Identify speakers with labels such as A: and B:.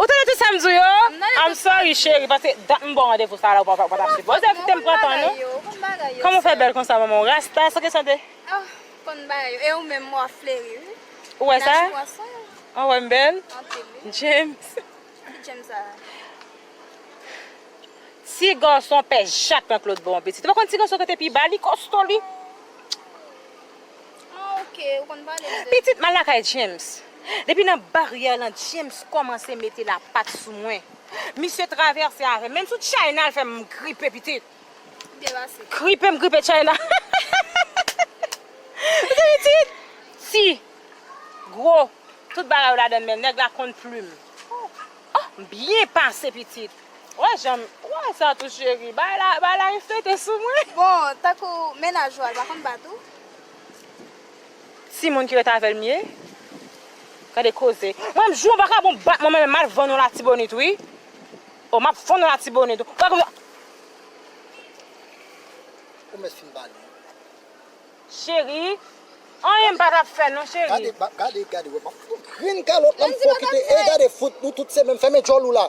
A: Ou tande tout sam di w yo? I'm sorry chérie paske dat m baw randevou sa la ou pa ta sipoze kitem pran tan non Kòman w fè bèl konsa manman w rasta san kesyon de Oh konn
B: bagay yo e ou menm wa fleri wi Ou wè sa?
A: Ou wè m bèl? James Ki James
B: sa la?
A: Ti gason pè jak nan klotbo anpil ti Ou pa konn ti gason kote pi ba li kosto li.
B: Pitit mal lakay James.
A: Depi nan baryè lan James kòmanse mete lapat sou mwen. Misye travèse avè m. Menm sou China l fè m gripe pitit.
B: Gripe m gripe China.
A: Kote pitit? Ti. Gwo. Tout bagay yo ladan l men nèg la konn plim. Oh! M byen pase pitit. Ou wè jan m. Ou wè sa tou cheri. Bagay la reflete sou mwen. Bon, tankou
B: mennaj ou a l pa konn bat ou?
A: Ti moun ki ret avèl m ye. Gade koze. Mwen m jou vakabon bat mwen mwen menm mal vann yon latibonit wi. Oh map vann yon latibonit. Ou pa konn. Ou
C: mèt fin pale.
A: Cheri. Anyen m pa tap fè non cheri. Gade gade gade wè map
C: fout grenn kalòt la m fè w kite e gade fout nou tout se menm fèmen djòl ou la.